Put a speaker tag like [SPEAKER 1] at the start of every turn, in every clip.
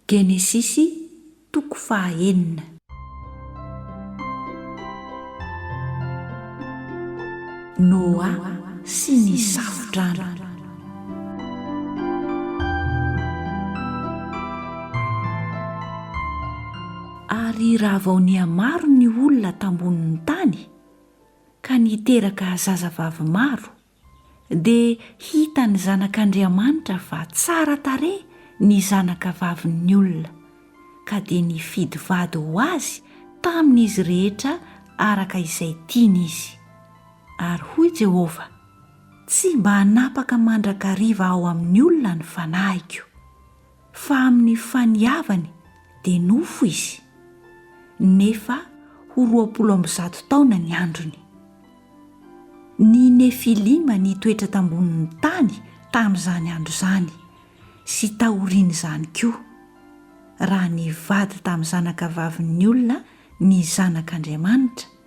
[SPEAKER 1] Genesisy toko faha enina. Noa sy ny Safo-drano. Ary raha vao nihamaro ny olona tambonin'ny tany, ka niteraka zazavavy maro, dia hitan'ny zanak'Andriamanitra fa tsara tarehy ny zanaka vavin'ny olona, ka dia nifidy vady ho azy tamin'izy rehetra araka izay tiany izy. Ary hoy Jehovah, Tsy mba hanapaka mandrakariva ao amin'ny olona ny fanahiko. Fa amin'ny faniavany dia nofo izy, nefa ho roapolo amby zato taona ny androny. Ny Nefilima nitoetra tambonin'ny tany tamin'izany andro izany, sy taorian'izany koa, raha nivady tamin'ny zanakavavin'ny olona ny Zanak'Andriamanitra,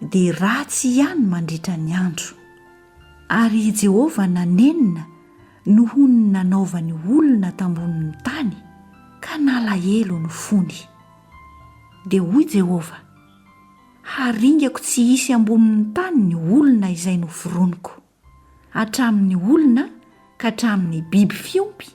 [SPEAKER 1] dia ratsy ihany mandritra ny andro. Ary i Jehovah nanenina noho ny nanaovany olona tambonin'ny tany, ka nalahelo ny fony. Dia hoy Jehovah, Haringako tsy hisy ambonin'ny tany ny olona izay noforoniko. hatramin'ny olona ka hatramin'ny biby fiompy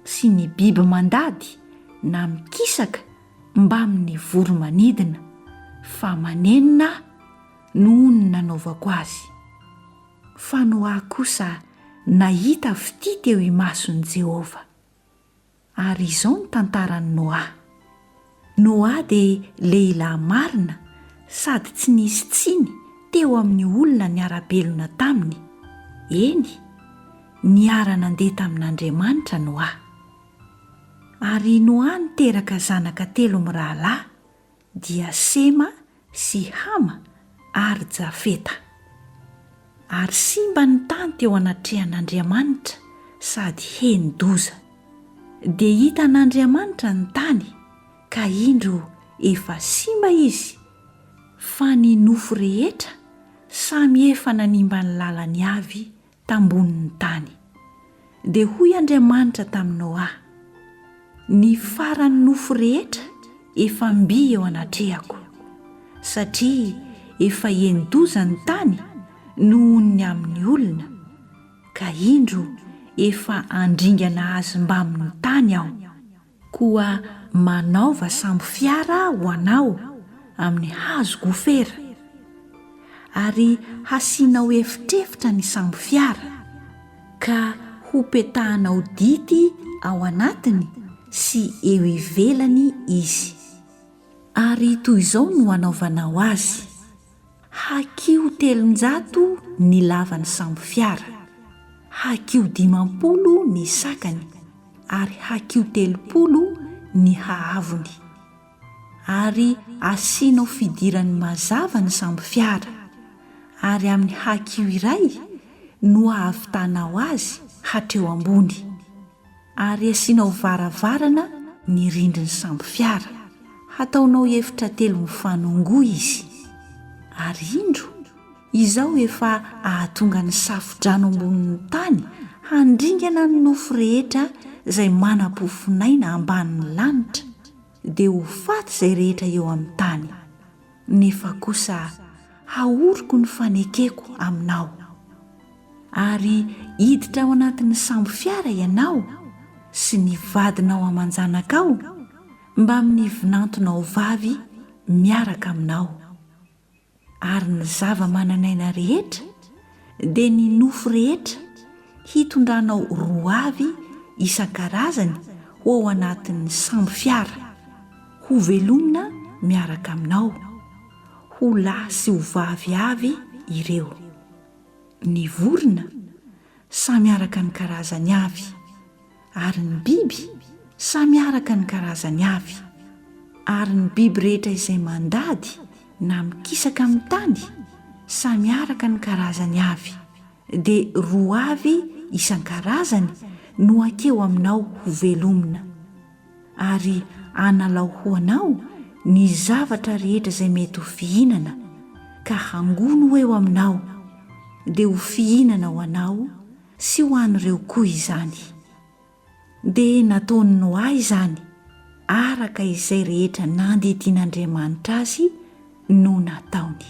[SPEAKER 1] sy ny biby mandady na mikisaka mbamin'ny voro-manidina, fa manenina Aho noho ny nanaovako azy. Fanoahy kosa nahita fitia teo imason'i Jehovah. Ary izao ny tantaran'i Noa. Noa dia lehilahy marina sady tsy nisy tsiny teo amin'ny olona niara-belona taminy. Eny, niara-nandeha tamin'Andriamanitra Noa. Ary Noa niteraka zanaka telo mirahalahy, dia Sema sy Hama ary Jafeta. Ary simba ny tany teo anatrehan'Andriamanitra sady heni-doza. Dia hitan'Andriamanitra ny tany, ka indro efa simba izy, fa ny nofo rehetra samy efa nanimba ny lalany avy tambonin'ny tany. Dia hoy Andriamanitra tamin'i Noa, Ny faran'ny nofo rehetra efa mby eo anatrehako, satria efa eni-doza ny tany nohon'ny amin'ny olona, ka indro efa handringana azy mbamin'ny tany aho. Koa manaova sambo fiara ho anao amin'ny hazo gofera, ary hasianao efitrefitra ny sambo fiara, ka hopetahanao dity ao anatiny sy eo ivelany izy. Ary toy izao no hanaovanao azy. Hakiho telonjato ny lavan'ny sambo fiara, hakiho dimampolo ny sakany ary hakiho telopolo ny haavony. Ary asianao fidirany mazava ny sambo fiara, ary amin'ny hakiho iray no ahavitanao azy hatreo ambony. ary asianao varavarana ny rindrin'ny sambo fiara, hataonao efitra telo mifanongoa izy, ary indro izao efa ahatonga ny safo-drano ambonin'ny tany handringana ny nofo rehetra izay manam-pofonaina ambanin'ny lanitra, dia ho faty izay rehetra eo amin'ny tany, nefa kosa hahoriko ny fanekeko aminao, ary hiditra ao anatin'ny sambo fiara ianao sy ny vadinao aman-janakao mbamin'ny vinantonao vavy miaraka aminao. Ary ny zava-manan'aina rehetra, dia ny nofo rehetra, hitondranao roa avy isan-karazany ho ao anatin'ny sambo fiara, hovelomina miaraka aminao, ho lahy sy ho vavy avy ireo. Ny vorona, samy araka ny karazany avy. Ary ny biby, samy araka ny karazany avy. Ary ny biby rehetra izay mandady na mikisaka amin'ny tany, samy araka ny karazany avy, dia roa avy isan-karazany no hakeo aminao hovelomina. Ary hanalao ho anao ny zavatra rehetra izay mety ho fihinana, ka hangono ho eo aminao, dia ho fihinana ho anao, Sy ho an'ireo koa izany. Dia nataon'i Noa izany araka izay rehetra nandidian'Andriamanitra azy no nataony.